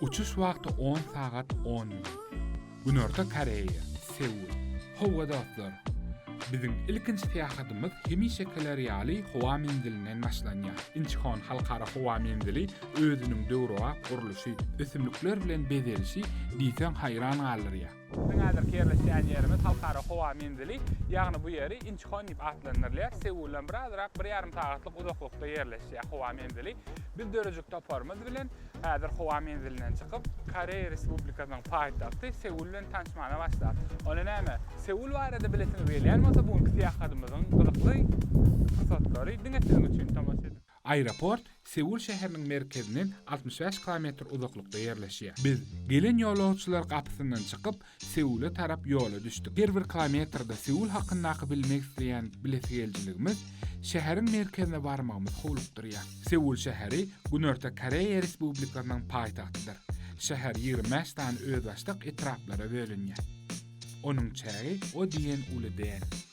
Uçuş wagty on sagat on minut. Günorta Koreýa, Seul. Howwa dostlar! Biziň ilkinji syýahatymyz hemişekiler ýaly howa menzilinden başlanýar. Inçhon halkara howa menzili özüniň döwrebap gurluşy, ösümlikler bilen bezelişi diýseň haýran galdyrýar. Biziň häzirki ýerleşýän ýerimiz Halkara howa menzili, ýagny bu ýeri Inçhon diýip atlandyrylýar. Seuldan bir azrak, bir ýarym sagatlyk uzaklykda ýerleşýär howa menzili. Biz dörejik toparymyz bilen häzir howa menzilinden çykyp, Koreýa Respublikasynyň paýtagty Seul bilen tanşmana başlap. Onda näme, Seul barada bilesiňiz gelýän bolsa, bu günki syýahatymyzyň gyzykly pursatlary diňe siziň üçin tomaşa ediň. Aeroport Seul şäheriniň merkezinden altmyş bäş kilometr uzaklykda ýerleşýär. Biz, gelen ýolagçylar gapysyndan çykyp, Seule tarap ýola düşdük. Her bir kilometrde Seul hakyndaky bilmek isleýän bilesigelijiligimiz şäheriň merkezine barmagymyzy howlukdyrýar. Seul şäheri Günorta Koreýa Respublikasynyň paýtagtydyr. Şäher ýigrimi bäş sany özbaşdak etraplara bölünýär. Onuň çägi o diýen uly däl.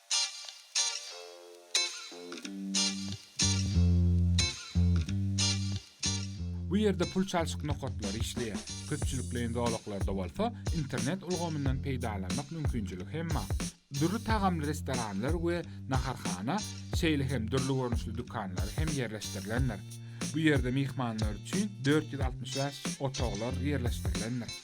Bu ýerde pul çalşyk nokatlary işleýär, köpçülikleýin zolaklarda bolsa internet ulgamyndan peýdalanmak mümkinçiligi hem bar. Dürli tagamly restoranlar we naharhana, şeýle hem dürli görnüşli dükanlary hem ýerleşdirilendir. Bu ýerde myhmanlar üçin dört ýüz altmyş bäş otaglar ýerleşdirilendir.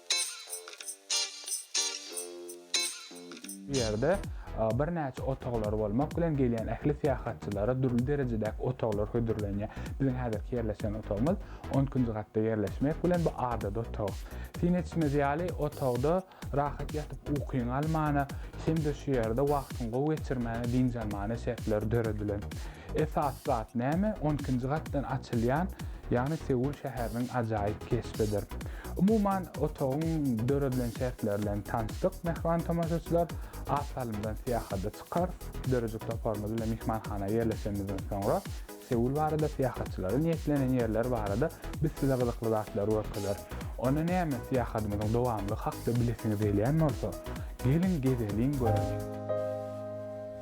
Bu ýerde birnäçe otaglar bolmak bilen gelýän ähli syýahatçylara dürli derejedäki otaglar hödürlenýär. Biziň häzirki ýerleşen otagymyz on ikinji gatda ýerleşmek bilen bu adaty otag. Syn etişimiz ýaly, otagda rahat ýatyp ukyňy almana hem-de şu ýerde wagtyňy gowy geçirmäne, dynç almana şertler döredilen. Esasy zat näme? On ikinji gatdan açylýan, ýagny Seul şäheriniň ajaýyp keşbidir. Umuman, otagyň döredilen şertleri bilen tanyşdyk, mähriban tomaşaçylar. Az salymdan syýahada çykarys. Döredijilik toparymyz bilen myhmanhana ýerleşenimizden soňra, Seul barada, syýahatçylara niýetlenen ýerler barada biz size gyzykly zatlary görkezeris. Onda näme, syýahadymyzyň dowamlygy hakda bilesiňiz gelýän bolsa, geliň, gezeliň, göreliň!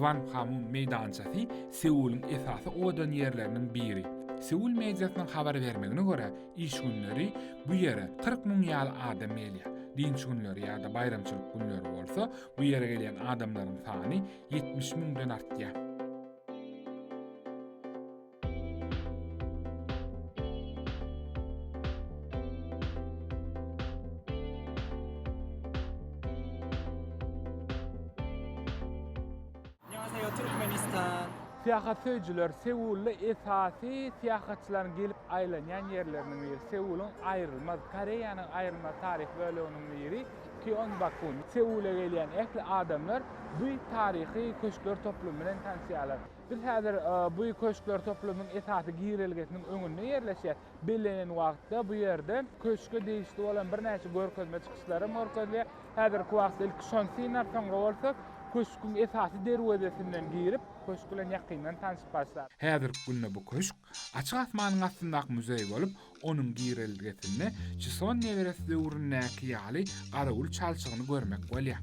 Kwanghwamun meýdançasy Seulyň esasy owadan ýerleriniň biri. Seul mediasynyň habar bermegine görä, iş günleri bu ýere kyrk müň ýaly adam gelýär. Dynç günleri ýa-da baýramçylyk günleri bolsa, bu ýere gelýän adamlaryň sany ýetmiş müňden artýar. Syýahatsöýüjiler Seulda esasy syýahatçylaryň gelip aýlanýan ýerleriniň biri, Seulyň aýrylmaz, Koreýanyň aýrylmaz taryhy böleginiň biri Gyeongbakgun. Seula gelýän ähli adamlar bu taryhy köşkler toplumy bilen tanşýarlar. Biz häzir bu köşkler toplumynyň esasy girelgesiniň öňünde ýerleşýäs. Bellenen wagtda bu ýerde köşge degişli bolan birnäçe görkezme çykyşlar hem görkezilýär. Häzirki wagtda ilki şony synlap, soňra bolsa köşgüň esasy derwezesinden girip, köşk bilen ýakyndan tanşyp başlarys. Häzirki günde bu köşk açyk asmanyň astyndaky muzeý bolup, onuň girelgesinde Çison neberesi döwründäki ýaly garawul çalşygyny görmek bolýar.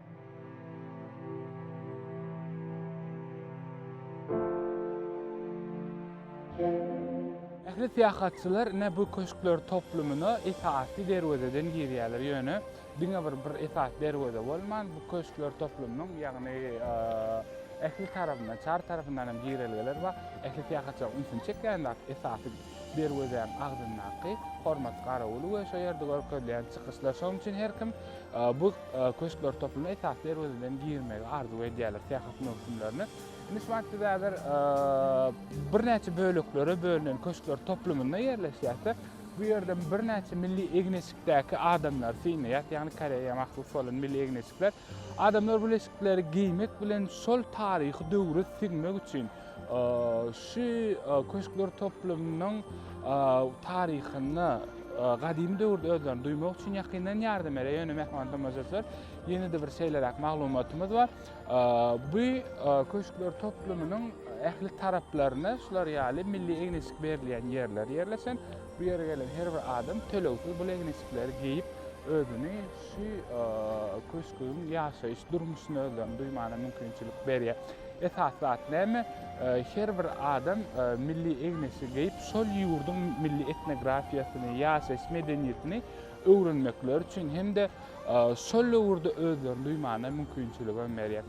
Ähli syýahatçylar ine bu köşkler toplumyna esasy derwezeden girýärler. Ýöne diňe bir bir esasy derweze bolman, bu köşkler toplumynyň, ýagny ähli tarapyndan, çar tarapyndan hem girelgeler bar. Ähli syýahatçylaryň ünsüni çekýän zat esasy derwezäň agzyndaky hormat garawuly we şo ýerde görkezilýän çykyşlar. Şonuň üçin her kim bu köşkler toplumyna esasy derwezeden girmegi arzuw edýärler syýahat möwsümlerine. Indi şu wagt biz häzir birnäçe böleklere bölünen köşkler toplumynda ýerleşýärse, bu ýerde birnäçe milli egin-eşikdäki adamlary synlaýarys, ýagny Koreýa mahsus bolan milli egin-eşikler. Adamlar bu leşikleri geýmek bilen şol taryhy döwre siňmek üçin şu köşkler toplumynyň taryhyna gadymy döwürde özlerini duýmak üçin ýakyndan ýardam berýär. Ýöne mähriban tomaşaçylar, ýene-de bir şeýleräk maglumatymyz bar. Bu köşkler toplumynyň ähli taraplaryna şular ýaly milli egniçik berilýän ýerler ýerleşen. Bu ýere gelen her bir adam tölegsiz bu egniçikleri geýip özüni Şu köşgüň ýaşaýyş durmuşyny özlerine duýmagyna mümkinçilik berýär. Esasy zat näme? Her bir adam milli egniçi geýip, şol ýurduň milli etnografiýasyny, ýaşaýyş medeniýetini öwrenmekleri üçin hem-de şol döwürde özlerini duýmagyna mümkinçilik hem berýär.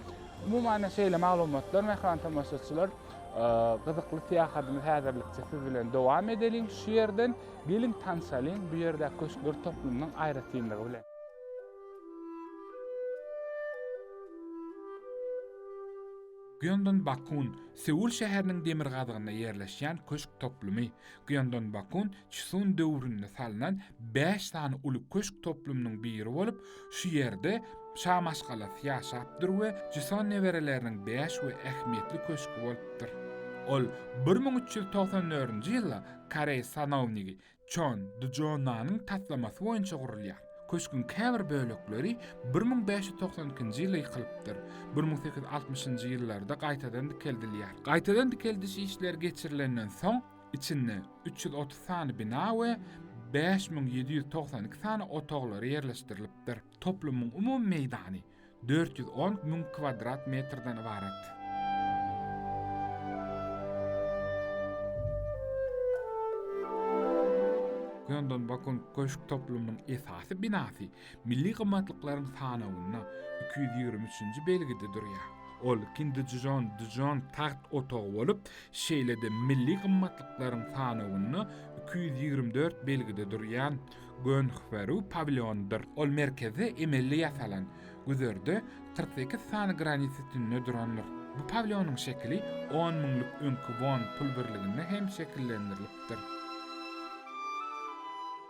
Umuman şeýle maglumatlar mähriban tomaşaçylar. Gyzykly syýahadymyzy häzirlikçe siz bilen dowam edeliň şu ýerden. Geliň tanşalyň bu ýerdäki köşkler toplumynyň aýratynlygy bilen. Gyeongbakun, Seul şäheriniň demirgazygynda ýerleşýän köşk toplumy. Gyeongbakun Çsun döwründe salnan bäş sany uly köşk toplumynyň biri bolup, Şu ýerde şa maşgalasy ýaşapdyr we Jison nebereleriniň bäş we ähmiýetli köşgi bolupdyr. Ol bir müň üç ýüz togsan dördünji ýylda koreý sanownigi Çon Djonanyň taslamasy boýunça gurulýar. Köşgüň käbir bölekleri bir müň bäş ýüz togsan ikinji ýylda ýykylypdyr, bir müň sekiz ýüz altmyşynjy ýyllarda gaýtadan dikeldilýär. Gaýtadan dikeldiş işleri geçirilenden soň, Içinde üç ýüz otuz sany bina we bäş müň ýedi ýüz togsan iki sany otaglary ýerleşdirilipdir. Toplumyň umumy meýdany dört ýüz on müň kwadrat metrden ybarat. Gyondonbokun köşk toplumynyň esasy binasy Milli gymmatlyklaryň sanawynda iki ýüz ýigrimi üçünji belgide durýar. Ol Kindižon Džon tagt otagy bolup, şeýle-de milli gymmatlyklaryň sanawynda iki ýüz ýigrimi dört belgide durýan Gönhweru pawilýonydyr. Ol merkezde emelli ýasalan, güzerde kyrk sekiz sany granit sütünine durandyr. Bu pawilýonyň şekili on müňlük öňki won pul birliginde hem şekillendirilipdir.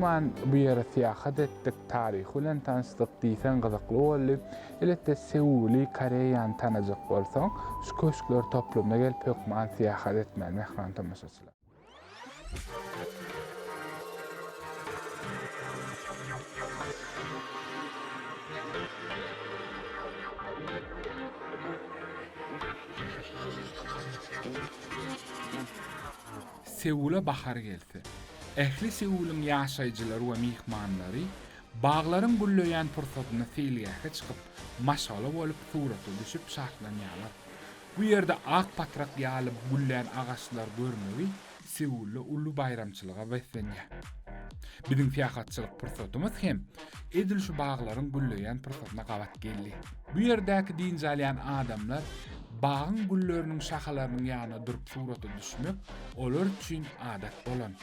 Umuman, bu ýere syýahat etdik, taryhy bilen tanyşdyk diýseň gyzykly boldy. Elbetde, Seuli, Koreýany tanajak bolsaň, şu köşkler toplumyna gelip hökman syýahat etmeli, mähriban tomaşaçylar. Seula bahar gelse, ähli Seulyň ýaşaýjylary we myhmanlary baglaryň gülleýän pursatynda seýilgähe çykyp, maşgala bolup surata düşüp şatlanýarlar. Bu ýerde ak patrak ýaly güllän agaçlary görmegi Seulda uly baýramçylyga beslenýär. Biziň syýahatçylyk pursatymyz hem edil şu baglaryň gülleýän pursatyna gabat geldi. Bu ýerdäki dynç alýan adamlar bagyň gülleriniň şahalarynyň ýanyna durup surata düşmek olar üçin adat bolan.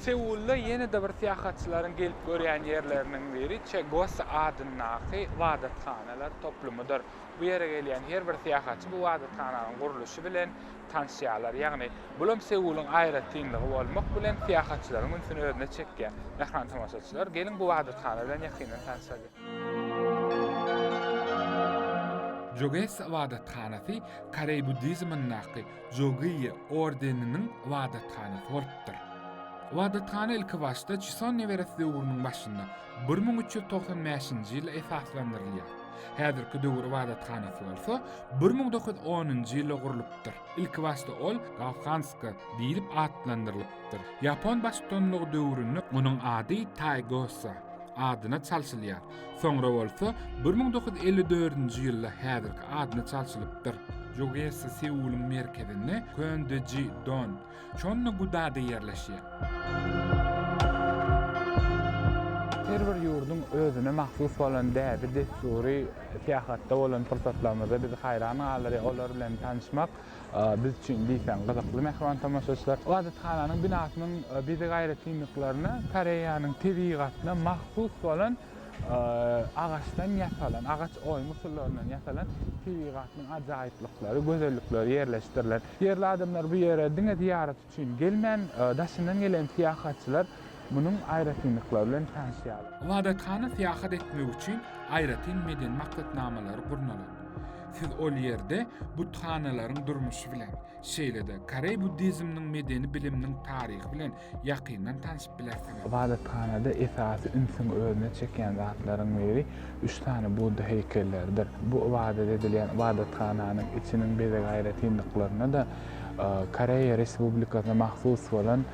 Seulda ýene-de bir syýahatçylaryň gelip görýän ýerleriniň biri Çegos adyndaky ybadathanalar toplumydyr. Bu ýere gelýän her bir syýahatçy bu ybadathananyň gurluşy bilen tanşýarlar. Ýagny, bulam Seulyň aýratynlygy bolmak bilen, syýahatçylaryň ünsüni özüne çekýär. Mähriban tomaşaçylar, geliň bu ybadathana bilen ýakyndan tanşalyň. Çegos ybadathanasy koreý buddizmyndaky Jogiýe ordeniniň ybadathanasy bolupdyr. Ybadathana ilkibaşda Çison neberesi döwrüniň başynda, bir müň üç ýüz togsan bäşinji ýylda esaslandyrylýar. Häzirki döwür ybadathanasy bolsa bir müň dokuz ýüz onunjy ýylda gurlupdyr. Ilkibaşda ol Galhanska diýlip atlandyrylypdyr. Ýapon baştutanlygy döwründe onuň ady Taýgosa adyna çalşylýar. Soňra bolsa bir müň dokuz ýüz elli dördünji ýylda häzirki adyna çalşylypdyr. Jogesi Seulyň merkezinde Köndiji Don, Çonna Gudada ýerleşýär. Her bir ýurduň özüne mahsus bolan däbi-dessury syýahatda bolan pursatlarymyzda bizi haýran galdyrýar, olar bilen tanyşmak Biz üçin diýseň gyzykly mähriban tomaşaçylar. Ybadathananyň binasynyň bezeg aýratynlyklaryna Koreýanyň tebigatyna mahsus bolan agaçdan ýasalan, agaç oýum usullaryndan ýasalan tebigatynyň ajaýyplyklary, gözellikleri ýerleşdirilen. Ýerli adamlar bu ýere diňe zyýarat üçin gelmän, daşyndan gelen syýahatçylar munuň aýratynlyklary bilen tanyşýarlar. Ybadathana syýahat etmek üçin aýratyn medeni maksatnamalary gurnalan. Siz ol ýerde buthanalaryň durmuşy bilen, şeýle-de koreý buddizminiň medeni biliminiň taryhy bilen ýakyndan tanyşmaly. Ybadathanada esasy ünsüňi özüne çekýän zatlaryň biri üç sany Budda heýkelleridir. Bu ybadat edilýän ybadathananyň içiniň bezeg aýratynlyklaryna-da Koreýa Respublikasyna mahsus bolan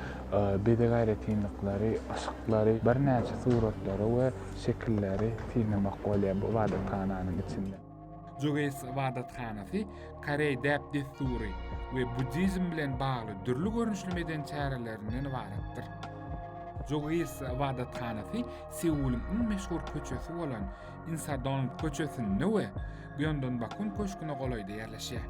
bezeg aýratynlyklary, yşyklary, birnäçe suratlary we şekilleri synlamak bolýar bu ybadathananyň içinde. Jogeýs ybadathanasy koreý däp-dessury we buddizm bilen bagly dürli görnüşli medeni çärelerinden ybaratdyr. Jogeýs ybadathanasy Seulyň iň meşhur köçesi bolan Insadong köçesinde we Gyeongbakun köşgüne golaýda ýerleşýär.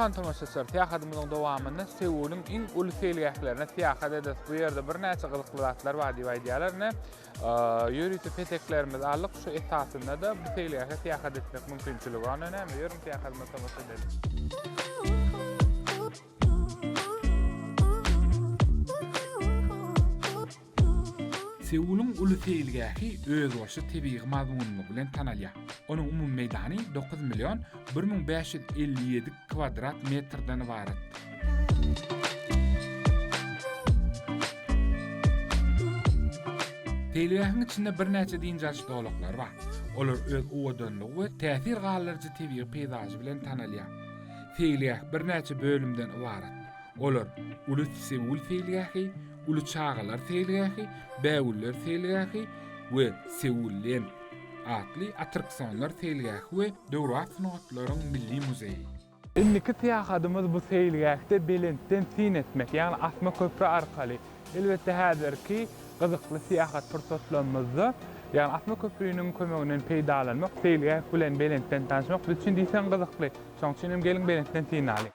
Mähriban tomaşaçylar, syýahatymyzyň dowamynda Seulyň iň uly seýilgählerine syýahat ederis. Bu ýerde birnäçe gyzykly zatlar bar diýip aýdýarlar. Ine, ýörite peteklerimizi aldyk. Şu esasynda-da bu seýilgähe syýahat etmek mümkinçiligi bar. Ine, näme, ýörüň syýahatymyza tomaşa edeliň. Seulyň uly seýilgähi özboluşly tebigy mazmunlygy bilen tanalýar. Onuň umumy meýdany dokuz million bir müň bäş ýüz elli ýedi kwadrat metrden ybaratdyr. Seýilgähiň içinde birnäçe dynç alyş zolaklary bar. Olar öz owadanlygy we täsir galdyryjy tebigy peýzažy bilen tanalýar. Seýilgäh birnäçe bölümden ybarat. Olar, Uly Seul seýilgähi, Uly çagalar seýilgähi, Bägüller seýilgähi we Seul Lend atly attraksonlar seýilgähi we Döwrebap sungatlaryň milli muzeýi. Indiki syýahatymyz bu seýilgähde belentden syn etmek, ýagny asma köpri arkaly. Elbetde häzirki gyzykly syýahat pursatlarymyzda, ýagny asma köpriniň kömeginden peýdalanmak, seýilgäh bilen belentden tanyşmak biz üçin diýseň gyzykly. Şonuň üçin hem geliň belentden synalyň.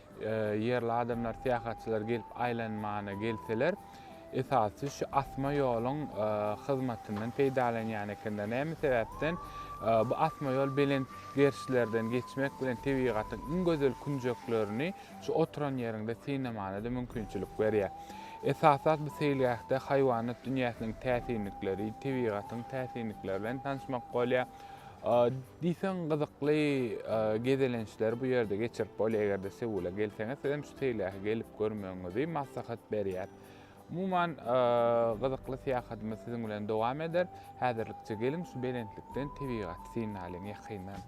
Ýerli adamlar syýahatçylar gelip aýlanmana gelseler, esasy şu asma ýoluň hyzmatyndan peýdalanýan ekenler. Näme sebäpden? Bu asma ýol belent gerişlerden geçmek bilen tebigatyň iň gözel künjeklerini şu oturan ýeriňde synamana-da mümkinçilik berýär. Esasas bu seýilgähde haýwanat dünýäsiniň täsinlikleri, tebigatyň täsinlikleri bilen tanyşmak bolýar. Diýseň gyzykly gezelençleri bu ýerde geçirip bolýar. Eger-de Seula gelseňiz, siz hem şu seýilgähe gelip görmegiňizi maslahat berýär. Umuman, gyzykly syýahatymyz siziň bilen dowam eder. Häzirlikçe geliň şu belentlikden tebigaty synalyň ýakyndan.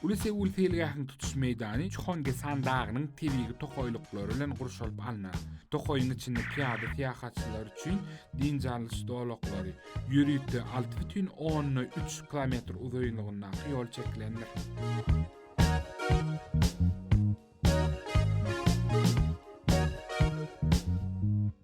Uly Seul seýilgähiniň tutuş meýdany Çhongesan dagynyň tebigy tokaýlyklary bilen gurşalyp alnan. Tokaýyň içinde pyýada syýahatçylar üçin dynç alyş zolaklary, ýörite alty bütin onda üç kilometr uzynlygyndaky ýol çekilendir.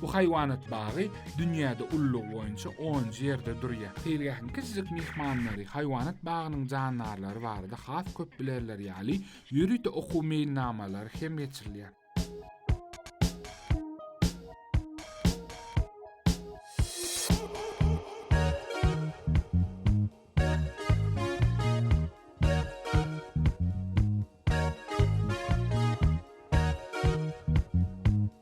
Bu haýwanat bagy dünýäde ullug boýunça onunjy ýerde durýar. Seýilgähiň kiçijik myhmanlary haýwanat bagynyň jandarlary barada has köp bilerler ýaly, ýörite okuw meýilnamalary hem geçirilýär.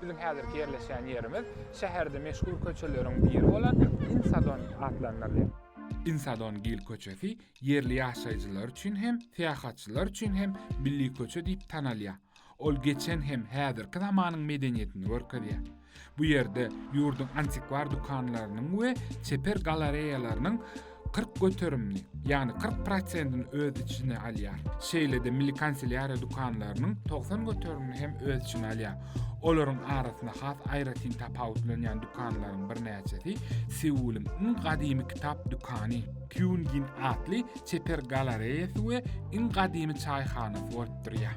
Biziň häzirki ýerleşýän ýerimiz şäherde meşhur köçeleriň biri bolan Insadon atlandyrylýar. Insadon Gil köçesi ýerli ýaşaýjylar üçin hem, syýahatçylar üçin hem milli köçe diýip tanalýar. Ol geçen hem häzirki zamanyň medeniýetini görkezýär. Bu ýerde ýurduň antikwar dükanlarynyň we çeper galareýalarynyň 40 göterimini, ýagny 40 prosentini öz içine alýar. Şeýle-de milli kanselýariýa dükanlarynyň 90 göterimini hem öz içine alýar. Olaryň arasynda has aýratyn tapawutlanýan dükanlaryň birnäçesi Seulyň iň gadymy kitap dükany Kyungin atly çeper galareýasy we iň gadymy çaýhanasy bolup durýar.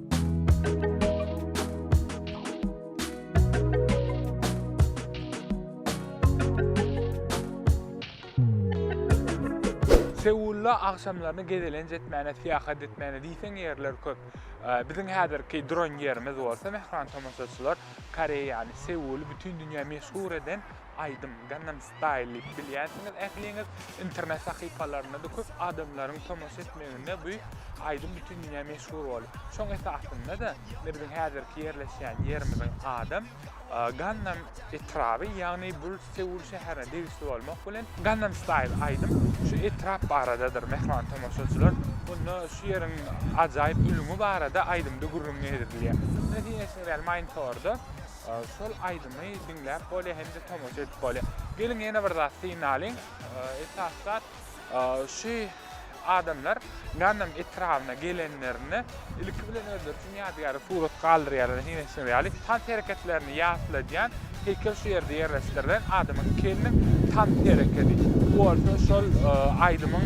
Seulda agşamlaryny gezelenç etmäne, syýahat etmäne diýseň ýerler köp. Biziň häzirki duran ýerimiz bolsa, mähriban tomaşaçylar, Koreýany, Seuli bütin dünýä meşhur eden Aýdym Gangnam Style diýip bilýänsiňiz ähliňiz. Internet sahypalarynda-da köp adamlaryň tomaşa etmeginde bu aýdym bütin dünýä meşhur boldy. Şoň esasynda-da indi biziň häzirki ýerleşýän ýerimiziň adam Gangnam etraby, ýagny bul Seul şäherine degişli bolmak bilen, Gangnam Style aýdym şu etrap baradadyr, mähriban tomaşaçylar. Onda şu ýeriň ajaýyp ülňi barada aýdymda gürrüň ýedirilýär. Indi siz eşidibermäýin torda. Şol aýdymy diňläp bolýar hem-de tomaşa edip bolýar. Geliň ýene bir zat synalyň. Esasy zat şu adamlar Ganam etrabyna gelenlerinde ilki bilen özleri üçin ýadygärlik surat galdyrýarlar diýen şeýle ýaly tans hereketlerini ýatladýan heýkel şu ýerde ýerleşdirilen adamyň keliniň tans herekedi. Bu bolsa şol aýdymyň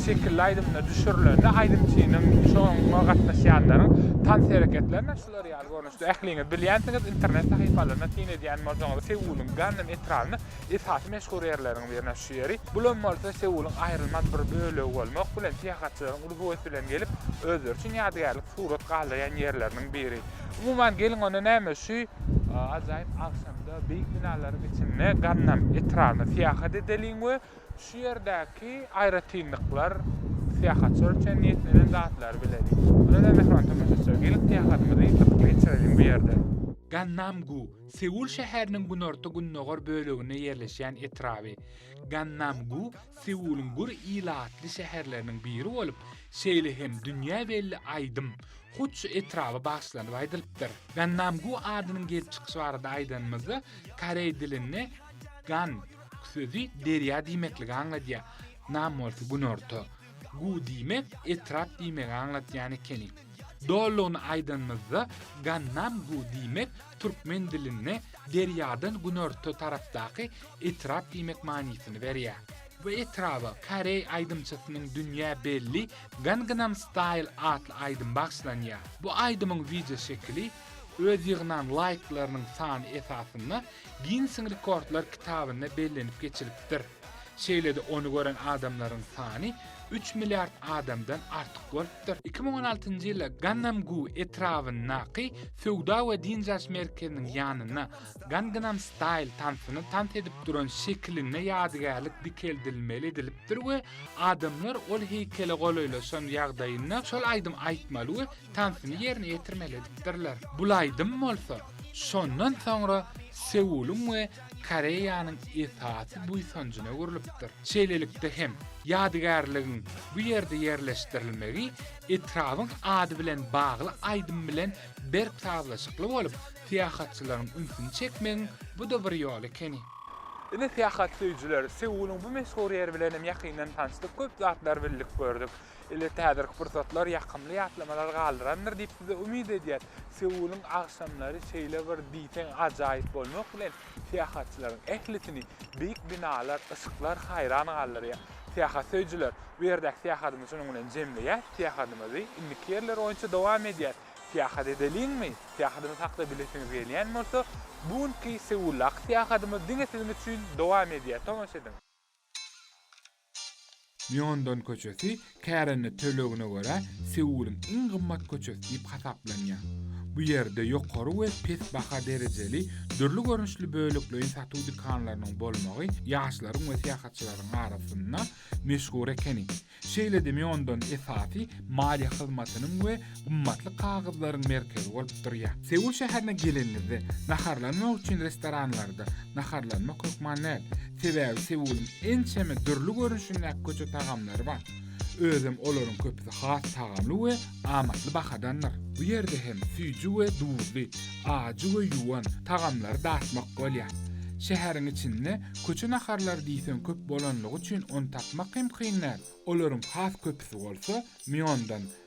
şekilli aýdymyna düşürilende aýdymçynyň şoňa gatnaşýanlaryň tans hereketlerine şular ýaly Siz ähliňiz bilýänsiňiz, internet sahypalaryna syn edýän bolsaňyz, Seulyň Gannem etrabyny esasy meşhur ýerleriň birine şu ýeri, bulam bolsa Seulyň aýrylmaz bir bölegi bolmak bilen syýahatçylaryň uly höwes bilen gelip, özleri üçin ýadygärlik surat galdyrýan ýerleriniň biri. Umuman, geliň onda näme, şu ajaýyp agşamda beýik binalaryň içinde Gannem etrabyna syýahat edeliň we Şu ýerdäki aýratynlyklar syýahatçylar üçin niýetlenen zatlary bileliň. Ýöne mähriban tomaşaçylar, geliň syýahatymyzy gyzykly geçirelim bu ýerde. Gannam-gu, Seul şäheriniň günorta-gündogar böleginde ýerleşýän etraby. Gannam-gu Seulyň gür ilatly şäherleriniň biri bolup, şeýle hem dünýä belli aýdym hut şu etraba bagyşlanyp aýdylypdyr. Gannam-gu adynyň gelip çykyşy barada aýdanymyzda, koreý dilinde Gan, k sözi derýa diýmekligi aňladýar. Nam bolsa günorta. Gu diýmek etrap diýmegi aňladýan ekeni. Dolugyny aýdanymyzda Gannam gu diýmek türkmen dilinde derýadan günorta tarapdaky etrap diýmek manysyny berýär. Bu etraba koreý aýdymçysynyň dünýä belli Gangnam Style atly aýdymy bagyşlanýar. Bu aýdymyň wideoşekili Öz ýygnan laýklarynyň sany esasynda Ginnesiň rekordlar kitabynda bellenip geçilipdir. Şeýle-de ony gören adamlaryň sany üç milliard adamdan artyk bolupdyr. Iki müň on altynjy ýylda Gannam-gu etrabyndaky söwda we dynç alyş merkeziniň ýanynda Gangnam Style tansyny tans edip duran şekilinde ýadygärlik dikeldilmeli edilipdir we adamlar ol heýkele golaýlaşan ýagdaýynda şol aýdym aýtmaly we tansyny ýerine ýetirmeli edipdirler. Bul aýdym bolsa, şondan soňra Seulyň we Koreýanyň esasy buýsanjyna öwrülipdir. Şeýlelikde hem, ýadygärligiň bu ýerde ýerleşdirilmegi etrabyň ady bilen bagly aýdym bilen berk sazlaşykly bolup, syýahatçylaryň ünsüni çekmegiň bu-da bir ýoly ekeni. Ine, syýahat söýüjiler, Seulyň bu meşhur ýeri bilen hem ýakyndan tanyşdyk, köp zatlary bildik, gördük. Elbetde häzirki pursatlar ýakymly ýatlamalar galdyrandyr diýip size umyt edýäs. Seulyň agşamlary şeýle bir diýseň ajaýyp bolmak bilen syýahatçylaryň ählisini beýik binalar, yşyklar haýran galdyrýar. Syýahat söýüjiler, bu ýerdäki syýahatymy şunuň bilen jemleýäs, syýahatymyzy indiki ýerler boýunça dowam edýäs. Syýahat edeliňmi? Syýahatymyzy hakda bilesiňiz gelýän bolsa, bu günki Seuldaky syýahatymyz diňe siziň üçin dowam edýär, tomaşa ediň! Mýondon köçesi kärende tölegine görä Seulyň iň gymmat köçesi diýip hasaplanýar. Bu ýerde ýokary we pes baha derejeli dürli görnüşli bölekleýin satuw dükanlarynyň bolmagy ýaşlaryň we syýahatçylaryň arasynda meşhur ekeni. Şeýle-de Mýondon esasy maliýe hyzmatynyň we gymmatly kagyzlaryň merkezi bolup durýar. Seul şäherine geleniňizde, naharlanmak üçin restoranlarda naharlanmak hökman däl. Sebäbi Seulyň ençeme dürli görnüşindäki köçe tagamlary bar. Özem olaryň köpüsi has tagamly we amatly bahadandyr. Bu ýerde hem süýji we duzly, ajy we ýuwan tagamlary datmak bolýar. Şäheriň içinde köçe naharlary diýseň köp bolanlygy üçin ony tapmak hem kyn däl. Olaryň has köpüsi bolsa Mýondan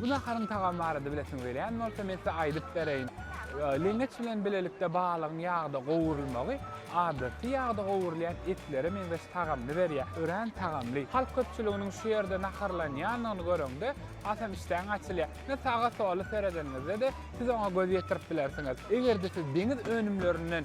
Bu naharyň tagamy barada bilesiňiz gelýän bolsa, men size aýdyp bereýin. Leňeç bilen bilelikde balygyň ýagda gowrulmagy adaty ýagda gowrulýan etlere meňzeş tagamyny berýär. Örän tagamly. Halk köpçüliginiň şu ýerde naharlanýanyny göreňde, hasam işdäň açylýar. Ine, saga-sola seredeniňizde-de, siz oňa göz ýetirip bilersiňiz. Eger-de siz deňiz önümlerinden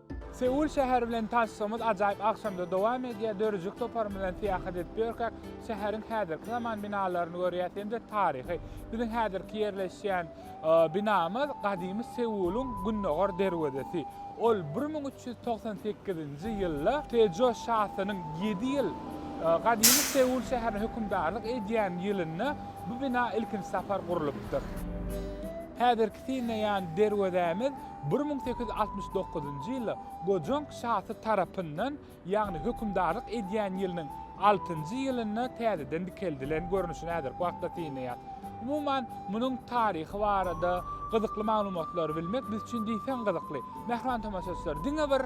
Seul şäheri bilen tanyşygymyz ajaýyp agşamda dowam edýär. Döredijilik toparym bilen syýahat edip ýörkäk, şäheriň häzirki zaman binalaryny görýäs hem-de taryhy. Biziň häzirki ýerleşýän binamyz gadymy Seulyň gündogar derwezesi. Ol bir müň üç ýüz togsan sekizinji ýylda Tejo şasynyň ýedi ýyl gadymy Seul şäherine hökümdarlyk edýän ýylynda bu bina ilkinji sapar gurlupdyr. Häzirki synlaýan derwezämiz Bir müň sekiz ýüz altmyş dokuzynjy ýylda Gojong şasy tarapyndan, ýagny hökümdarlyk edýän ýylynyň altynjy ýylynda täzeden dikeldilen görnüşini häzirki wagtda synlaýar. Umuman, munuň taryhy barada gyzykly maglumatlary bilmek biz üçin diýseň gyzykly. Mähriban tomaşaçylar, diňe bir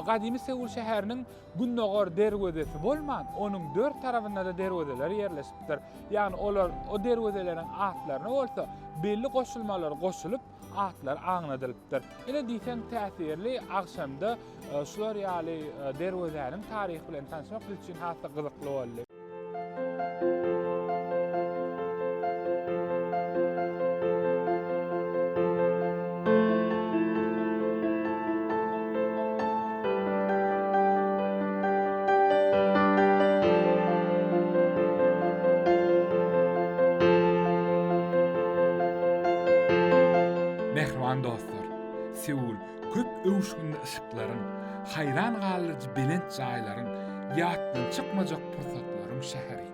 gadymy Seul şäheriniň gündogar derwezesi bolman, onuň dört tarabynda-da derwezeler ýerleşipdir. Ýagny olar o derwezeleriň atlaryna bolsa belli goşulmalar goşulyp, atlary aňladylypdyr. Ine diýseň täsirli agşamda şular ýaly derwezäniň taryhy bilen tanyşmak biz üçin has-da gyzykly boldy. Mähriban dostlar, Seul köp öwüşginli yşyklaryň, haýran galdyryjy belent jaýlaryň, ýatdan çykmajak pursatlaryň şäheri.